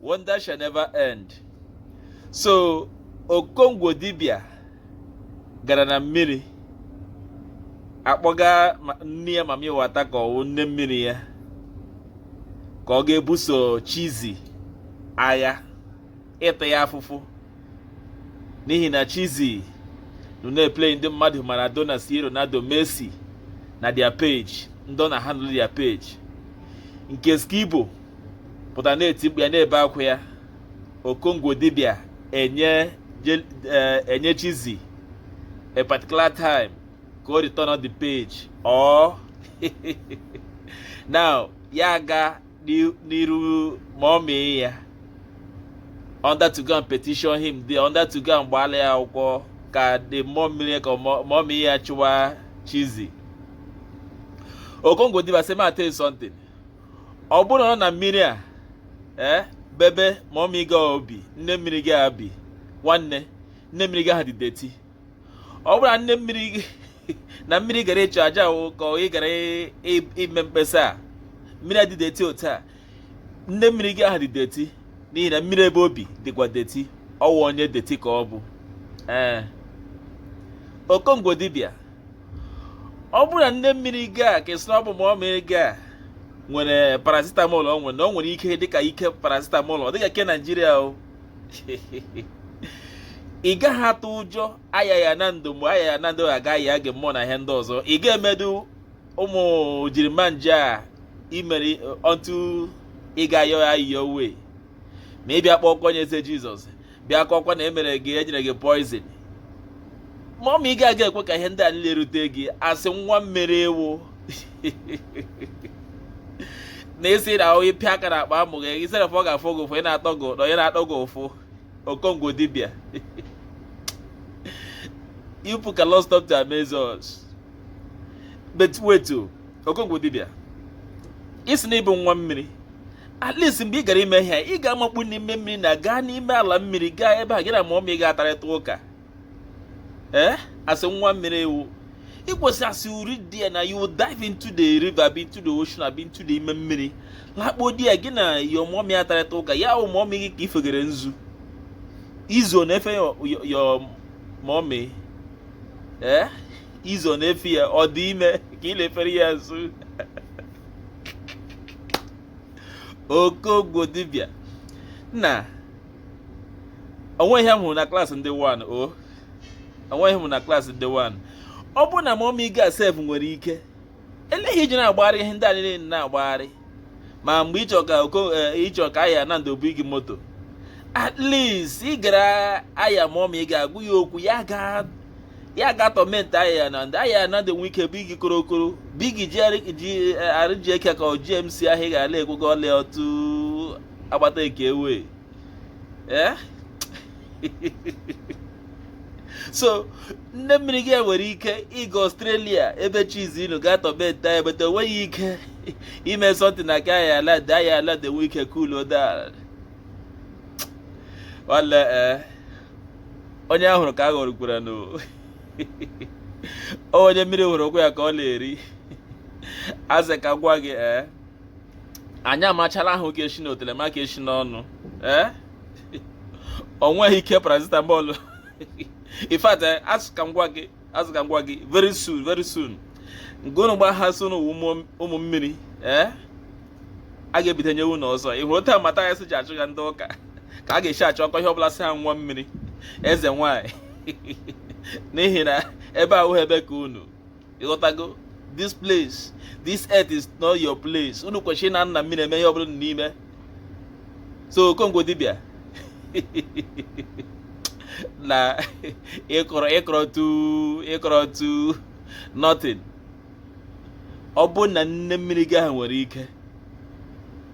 wonder shall never end so okongwu dibia gara na mmiri akpọga nne ya mami wata ka ọwụ nne mmiri ya ka ọ ga-ebuso chizi agha ịta ya afụfụ n'ihi na chizi nọ na-eplay ndị mmadụ maradona c ronaldo messi na their page ndị ọ na-handle their page nke skibo pụta na-eti mkpu ya na-ebe akwa ya okongwu dibia enye eh, enye chizi a particular time ka o return all the page or na ya aga n'iru mọmị ya under to go and petition him the under to go and gbaala ya akwụkwọ ka the mmụọ mmiri ka mmụọ mmiri ya chụwa chizi okongwu dibia say ma tell you something ọ bụrụ na ọ na mmiri a ee eh, bụ ebe mọmị gị ahụ bi nne mmiri gị a bi nwanne nne mmiri gị ahụ dị dirty ọ bụrụ na nne mmiri gị na mmiri ị gara ịchụ aja ahụ ka ị gara ime mkpesa a mmiri adị dirty otu a nne mmiri gị ahụ dị dirty n'ihi na mmiri ebe o bi dịkwa dirty ọwa onye dirty ka ọ bụ ee eh. okongwu dibịa ọ bụrụ na nne mmiri gị a ke ị sị na ọ bụ mọmị gị a nwere paracetamol o nwere na o nwere ike dịka ike paracetamol ọ dịka ke naijiria o ị gaghị atụ ụjọ aya ya na ndụ mgbe aya ya na ndụ agaghị ya gị mmụọ na ihe ndị ọzọ ị ga-emedu ụmụ jirimanje a ị mere until ị ga-ayọ ayịyọ wee ma ị bịa kpọọ oku onyeeze jizọs bịa kọkwa na e mere gị e nyere gị poison mọmị gị a ga-ekwe ka ihe ndị a niile rute gị as nwa mmiri ị wụ na ị sị na onye pịa aka na akpa amụ gị ị sịrị ọ ga-afụ gị ụfụ ị na-atọ gị ụtọ onye na-atọ gị ụfụ okongwu dibịa you people cannot stop to amaze us but wait o oh, okongwu dibia ị sị na ị bụ nwa mmiri at least mgbe ị gara ime ihe a ị ga-amakpu n'ime mmiri na gaa n'ime ala mmiri gaa ebe a gị na mọmị ga-atarịta ụka ee eh? as nwa mmiri ị wụ ị kwesịrị as you reach there na you dive into the river abi into the ocean abi into the ime mmiri lakpuo there gị na your mọmị atarịta ụka ya ahụ mọmị gị ka ifegere nzu izo na-efe your mọmị ee eh? izo na-efe ya ọ dị ime ka ị na-efere ya nzu okongwu dibịa nna onweghị ihe m hụrụ na klaasị ndị 1 o onweghị m na klaasị ndị 1 ọ bụrụ na mọmi gị sef nwere ike eleghị iji na-agbagharị ihe ndị a niile na-agbagharị ma mgbe ịchọ ka eh, ịchọ ka ahịa na ndobu gị moto at least ị gara ahịa mọmi ga-agwa ya okwu ya gaa ya ga torment ahịa na ndị ahịa na dị nwe ike bigi korokoro bigi ji arịji eke ka gmc ahụ ị ga-ala ekwego ọlị otu agbata eke ewe eh? so nne mmiri gị nwere ike ịga ọstrelia ebe chizi inu ga torment ahịa but o nweghị ike ime something na ka ahịa ala dị ahịa ala dị nwe ike kulo daa ala eh onye a hụrụ ka a ghọrọkwara na onye mmiri hụrụ ụkwụ ya ka ọ na-eri asị ka m gwa gị ee eh, anyị amachala ahụ ke eshi n'otele ma ke eshi n'ọnụ ee eh? o nweghị ike paracetamol in fact asị ka m gwa gị asị ka m gwa gị very soon very soon nke unu gba ha so n'ụwa ụmụ mmiri ee eh? a ga-ebite nye unu ọzọ ị hụrụ taa mata ya si ji achụ ya ndị ụka ka a ga-esi achụ ọkọ ihe ọbụla sị ha nwa mmiri eze nwanyị n'ihi na ebe ahụ ebe ka unu ịghọtago this place this earth is not your place unu kwesịrị na-anọ na mmiri eme ihe ọbụla unu na-eme so okongwu dibịa na equal to equal to nothing ọ bụrụ na nne mmiri gị ahụ nwere ike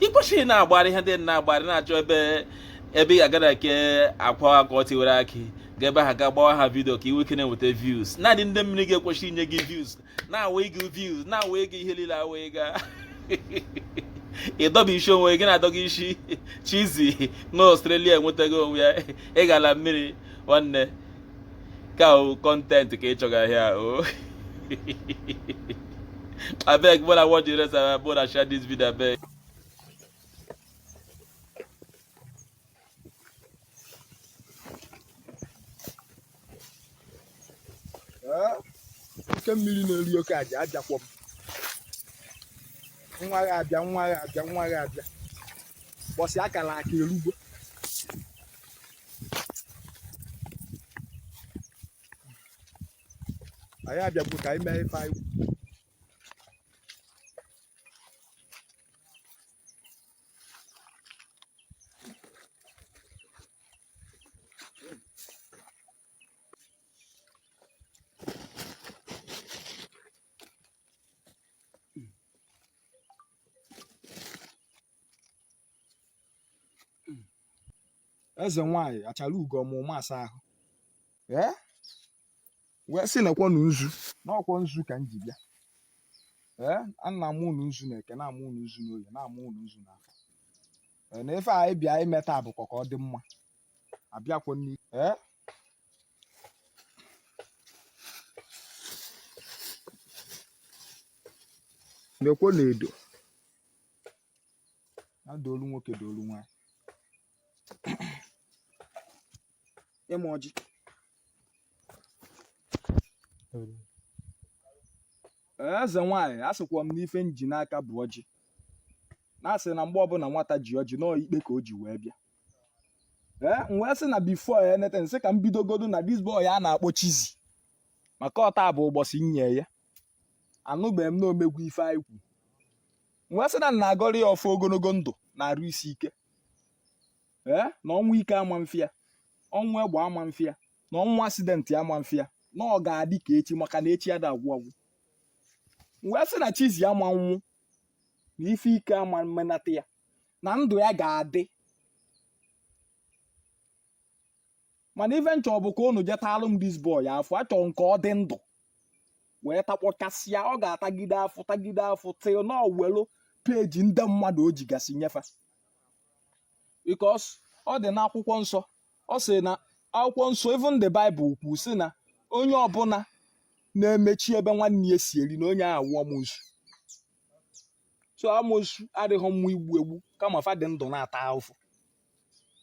ị kwesịrị na-agbarị ihe ndị na-agbarị na-achọ ebe ebe ị ga-agara ke akwa ọkụkọ tiwara akị ga ebe ahụ ga gbawa ha vidio ka ị nwee ike na-enweta views naanị nne mmiri gị kwesịrị inye gị views na-awa ego views na-awa ego ihe niile awa ego ịdọba isi onwe gị na-adọga isi chizi na ọstrelia enwetaghị onwe ya ị gala mmiri nwanne ka ọ content ka ị chọga here o abeg make una watch the rest of make una share this video abeg oke mmiri na-eri oke aja ajakwọ m nwa gị abịa nwa gị abịa nwa gị abịa ụbọsị akara aka erugo anyị abịago ka anyị mee ife anyị eze nwanyị achara ugo ọma ụma asa ahụ wee sị nekwanụ nzu na ọ kwa nzu ka m ji bịa ee ana m unu nzu na eke naa m unu nzu n'oye naa m unu nzu n'afọ ee na ife anyị bịa ime taa bụkwa ka ọ dị mma abịakwa nri ee nekwanụ edo na doolu nwoke doolu nwaanyị ịmụ ọjị eze nwaanyị a sịkwa m na ife m ji n'aka bụ ọjị na a sị na mgbe ọbụna nwata ji ọjị na ọ ikpe ka o ji wee bịa ee m wee sị na before anything m sị ka m bidogodu na this boy a a na-akpọ Chizzy maka ọ taa bụ ụbọsị m nye ya anụbeghị m na o megwo ife anyị kwu wee sị na m na-agọrọ ya ọfọ ogologo ndụ na arụ isi ike ee na ọnwụ ike ama mfụ ya ọnwụ egbe ama mfụ ya na ọnwụ accident ama mfụ ya na ọ ga-adị ka echi maka na echi ada agwụ agwụ wee sị na Chizzy ama nwụ na ife ike ama mmenata ya na ndụ ya ga-adị mana ife m chọ bụ ka unu jetalụ m this boy afụ achọrọ m ka ọ dị ndụ wee takpọkasịa ọ ga-atagide afụfụ tagide afụfụ till na o welu page ndị mmadụ o jigasị nye fa because ọ dị n'akwụkwọ nsọ ọ sị na akwụkwọ nsọ even the Bible kwu sị na onye ọbụla na-emechi ebe nwanne ya si eri na onye ahụ wụ amosu so amosu adịghị mma igbu egbu kama fa dị ndụ na-ata afụfụ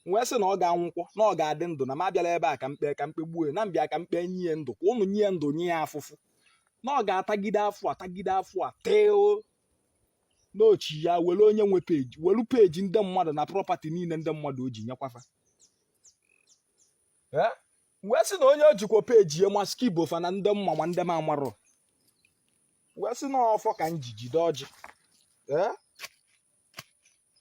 wee sị na ọ ga-anwụkwọ na ọ ga-adị ndụ na m abịarọ ebe a ka m kpe ka m kpegbuo na m bịa ka m kpe nye ya ndụ ka unu nye ya ndụ nye ya afụfụ na ọ ga-atagide afụfụ atagide afụfụ till na o chia were onye nwe page welu page ndị mmadụ na property niile ndị mmadụ o ji nyekwa fa wee sị na onye o jikwa page ya maski bofa na ndị m ma ma ndị m amarọ wee sị na ọfọ ka m ji jide ọjị